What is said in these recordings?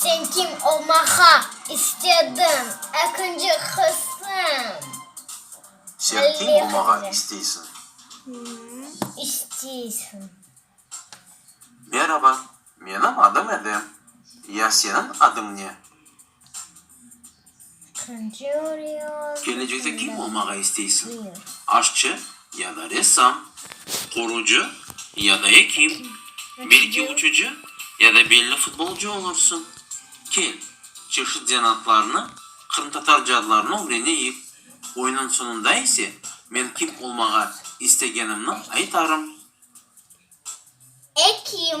Sen kim olmağa istediñ? Ekinci qısım. Sen kim olmağa isteysiñ? İsteysiñ. Meraba, menim adım Edem. Ya seniñ adıñ ne? Kelecekte kim olmağa isteysiñ? Aşçı ya da ressam? Qurucı ya da ekim? Belki uçucı ya da belli futbolcı olursıñ? Kel, çeşit zanaatlarnı, qırımtatar cadlarını ögreneyik. Oyunıñ soñunda ise men kim olmağa istegenimni aytarım. Ekim.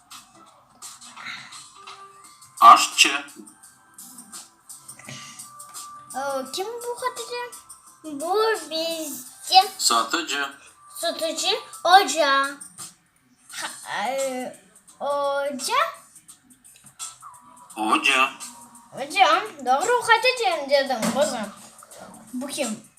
Aşçı. Kim bu Hatice? Bu bizde. Satıcı. Satıcı. Oca. Oca. Oca. Oca. Doğru Hatice dedim, qızım. Bu kim?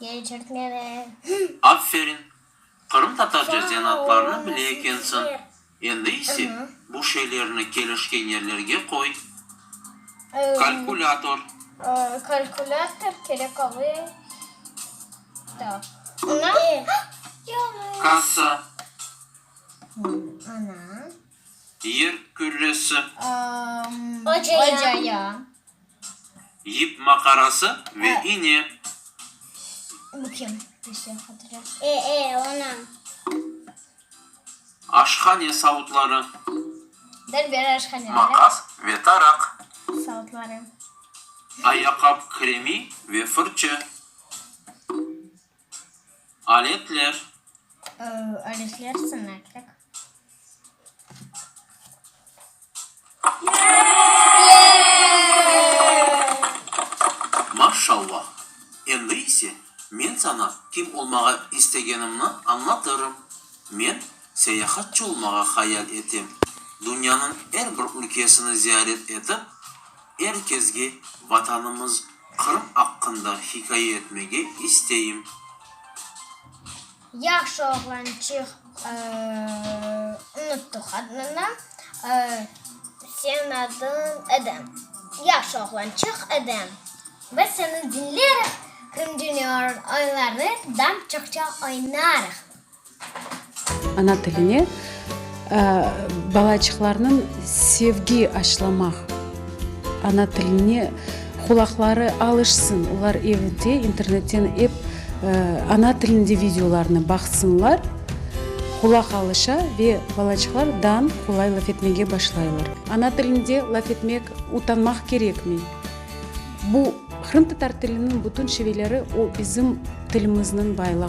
Geçirtmeli. Aferin! Qırımtatarca zenatlarnı bile ekensiñ. Endi ise, bu şeylerni kelişken yerlerge qoy. Kalkülâtor. Kalkülâtor kerek olay. Taq. Ana. Kassa. Ana. Yer kürresi. Ocaya. Yip maqarası ve iğne. Bu kim? E, e, ona. Aşhane savutları. Der bir aşhane. Maqas ve taraq. Savutları. Ayaqap kremi ve fırçı. Aletler. Aletler, sınaklik. Maşşallah! Endi ise men saña kim olmağa istegenimni añlatırım. Men. Seyahatçı olmağa hayal etem. Dünyanıñ er bir ülkesini ziyaret etip, er kezge Vatanımız Qırım aqqında hikaye etmege isteyim. Yahşı oğlançıq unuttuq adnını senin adın edem yahşı oğlançıq edem biz seni dinleriq krımjunior oyunlarını dam çoqça oynarıq. Ana tiline balaçıqlarnıñ sevgi aşılamaq, ana tiline qulaqları alışsın, olar evde internetten ep ana tilinde videolarnı baqsınlar, qulaq alışa ve balaçıqlar dan qolay laf etmege başlaylar. Ana tilinde laf etmek utanmaq kerekmey. Bu, qırımtatar tiliniñ bütün şiveleri, o bizim tilimizniñ baylığı.